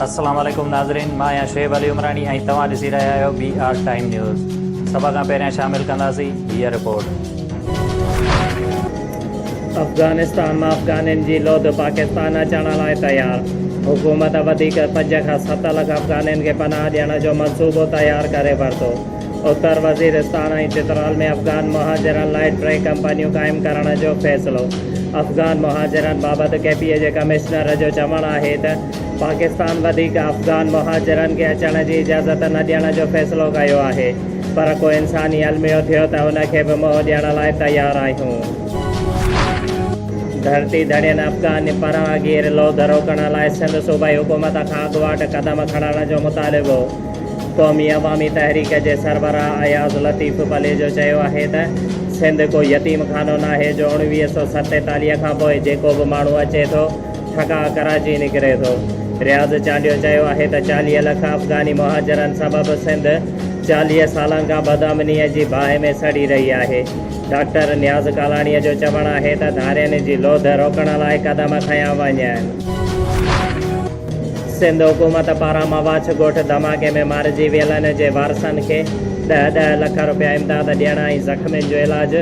السلام عليڪم ناظرين مان آهيان شعيب علي عمراڻي ۽ توهان ڏسي رهيا آهيو بي آر ٽائيم نيوز سڀ کان پهريان شامل ڪنداسين هيء رپورٽ. افغانستان مان افغانين جي لوڌ پاڪستان اچڻ لاء تيار، حڪومت وڌيڪ پنج کان ست لک افغانين کي پناهه ڏيڻ جو منصوبو تيار ڪري ورتو. اتر وزيرستان ۽ چترال ۾ افغان مهاجرن لاء ٽي ڪمپنيون قائم ڪرڻ جو فيصلو، افغان مهاجرن بابت ڪي پي اي جي ڪمشنر جو چوڻ آهي ته پاڪستان وڌيڪ افغان مهاجرن کي اچڻ جي اجازت نه ڏيڻ جو فيصلو ڪيو آهي پر ڪو انساني الميو ٿيو ته ان کي به منهن ڏيڻ لاء تيار آهيون. ڌرتي ڌڻين افغان پناهگير لوڌ روڪڻ لاء سنڌ صوبائي حڪومت کان اڳواٽ قدم کڻڻ جو مطالبو. قومي عوامي تحريڪ جي سربراهه اياز لطيف پليجو چيو آهي ته سنڌ ڪو يتيم خانو ناهي جو اوڻويهه سؤ ستيتاليهه کانپوء جيڪو به ماڻهو اچي ٿو ٺڪاء ڪراچي نڪري ٿو. رياض چانڊيو چيو آهي ته چاليهه لک افغاني مهاجرن سبب سنڌ چاليهه سالن کان بدامنيء جي باهه ۾ سڙي رهي آهي. ڊاڪٽر نياز ڪالاڻيء جو چوڻ آهي ته ڌارين جي لوڌ روڪڻ لاء قدم کنيا وڃن. سنڌ حڪومت پاران مواڇ ڳوٺ ڌماڪي ۾ مارجي ويلن جي وارثن کي ڏهه ڏهه لک رپيا امداد ڏيڻ ۽ زخمين جو علاج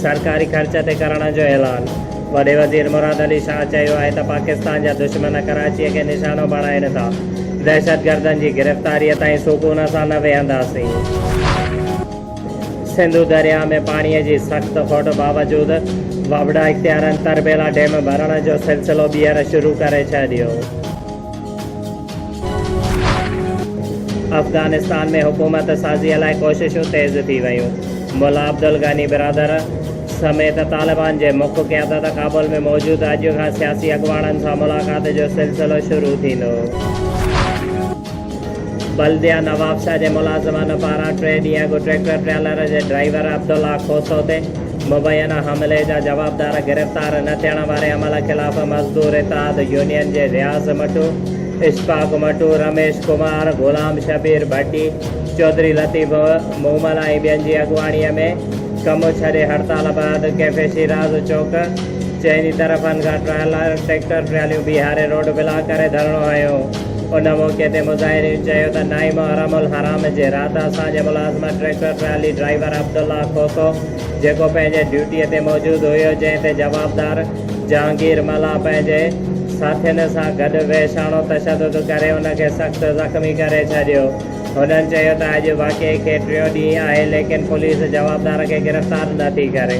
سرڪاري خرچ تي ڪرڻ جو اعلان وڏي وزير مراد علي شاهه چيو آهي ته پاڪستان جا دشمن ڪراچي کي نشانو بڻائين ٿا دهشتگردن جي گرفتاري تائين سڪون سان نه ويهنداسين. سنڌو درياهه ۾ پاڻي جي سخت کوٽ باوجود وابڊا اختيارين تربيلا ڊيم ڀرڻ جو سلسلو ٻيهر شروع ڪري ڇڏيو. افغانستان ۾ حڪومت سازيء لاء ڪوششون تيز ٿي ويون. ملا عبدالغني برادر سميت طالبان جي مک قيادت ڪابل ۾ موجود اڄ کان سياسي اڳواڻن سان ملاقات جو سلسلو شروع ٿيندو. بلديه نوابشاهه جي ملازمن پاران ٽي ڏينهن اڳ ٽريڪٽر ٽريلر جي ڊرائيور عبدالله کوسو تي مبينا حملي جا جوابدار گرفتار نه ٿيڻ واري عمل خلاف مزدور اتحاد يونين جي رياض مٽو، اشفاق مٽو، رميش ڪمار، غلام شبير ڀٽي، چوڌري لطيف مومل ۽ ٻين جي اڳواڻي ۾ ڪم ڇڏي هڙتال بعد ڪيفي شيراز چوڪ چئني طرفن کان ٽريلر ٽريڪٽر ٽراليون بيهاري روڊ بلاڪ ڪري ڌرڻو هنيو. ان موقعي تي مظاهرين چيو ته نعيم حرم الحرام جي رات اسان جي ملازمن tractor trolley driver Abdullah Khoso جيڪو پنهنجي ڊيوٽي تي موجود هيو جنهن تي جوابدار جهانگير ملاح پنهنجي ساٿين سان گڏ وحشاڻو تشدد ڪري ان کي سخت زخمي ڪري ڇڏيو هنن چيو ته اڄ واقعي کي ٽيون ڏينهن آهي ليڪن پوليس جوابدار کي گرفتار نه ٿي ڪري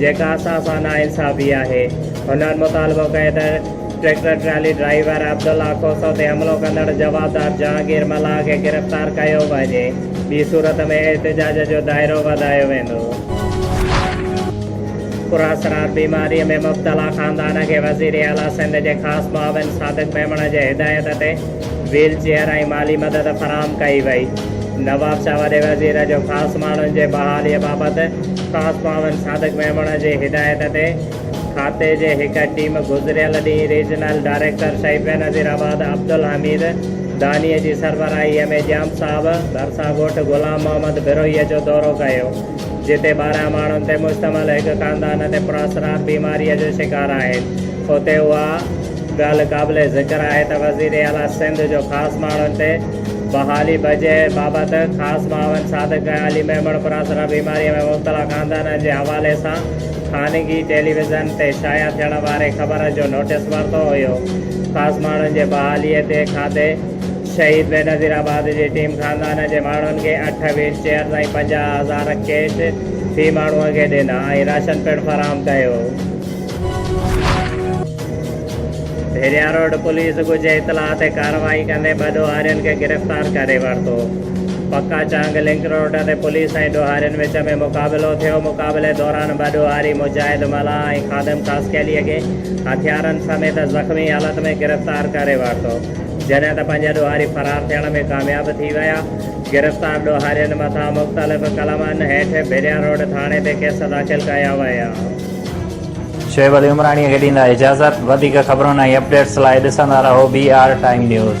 جيڪا اسان سان ناانصافي آهي هنن مطالبو ڪيو ته tractor trolley driver Abdullah Khoso تي حملو ڪندڙ جوابدار جهانگير ملاح کي گرفتار ڪيو وڃي، ٻي صورت ۾ احتجاج جو دائرو وڌايو ويندو. پراسرار بيماريء ۾ مبتلا خاندان کي وزير اعليٰ سنڌ جي خاص معاون صادق ميمڻ جي هدايت تي ويل چيئر ۽ مالي مدد فراهم ڪئي وئي. نوابشاهه وڏي وزير جو خاص ماڻهن جي بحاليء بابت خاص معاون صادق ميمڻ جي هدايت تي کاتي جي هڪ ٽيم گذريل ڏينهن ريجنل ڊائريڪٽر شهيد بينظير آباد عبدالحميد دانيء جي سربراهي ۾ ڄام صاحب ڀرسان ڳوٺ غلام محمد بروهيء جو دورو ڪيو، جتي ٻارهن ماڻهن تي مشتمل هڪ خاندان تي پراسرار بيماريء جو شڪار آهن. اتي اها ڳالهه قابل ذڪر آهي ته وزير اعليٰ سنڌ جو خاص ماڻهن تي بحالي بجي بابت خاص معاون صادق ۽ علي ميمڻ پراسرار بيماريء ۾ مبتلا خاندانن جي حوالي سان خانگي ٽيليويزن تي شايع ٿيڻ واري خبر جو نوٽيس ورتو هيو. خاص ماڻهن جي بحالي تي کاتي شهيد بينظير آباد جي ٽيم خاندان جي ماڻهن کي اٺ ويل چيئرز ۽ پنجاهه هزار ڪيش في ماڻهو کي ڏنا ۽ راشن پڻ فراهم ڪيو. ڀيريا روڊ پوليس ڳجهي اطلاع تي ڪارروائي ڪندي ٻه ڏوهارين کي گرفتار ڪري ورتو. پڪا چانگ لنڪ روڊ تي پوليس ۽ ڏوهارين وچ ۾ مقابلو ٿيو، مقابلي دوران ٻه ڏوهاري مجاهد ملاح ۽ خادم ڪاسڪيلي کي هٿيارن سميت زخمي حالت ۾ گرفتار ڪري ورتو، جڏهن ته پنج ڏوهاري فرار ٿيڻ ۾ ڪامياب ٿي ويا، گرفتار ڏوهارين مٿان مختلف قلمن هيٺ ڀيريا روڊ ٿاڻي تي ڪيس داخل ڪيا ويا. شعيب علي عمراڻيء کي ڏيندا اجازت. وڌيڪ خبرن ۽ اپڊيٽس لاء ڏسندا رهو بي آر ٽائيم نيوز.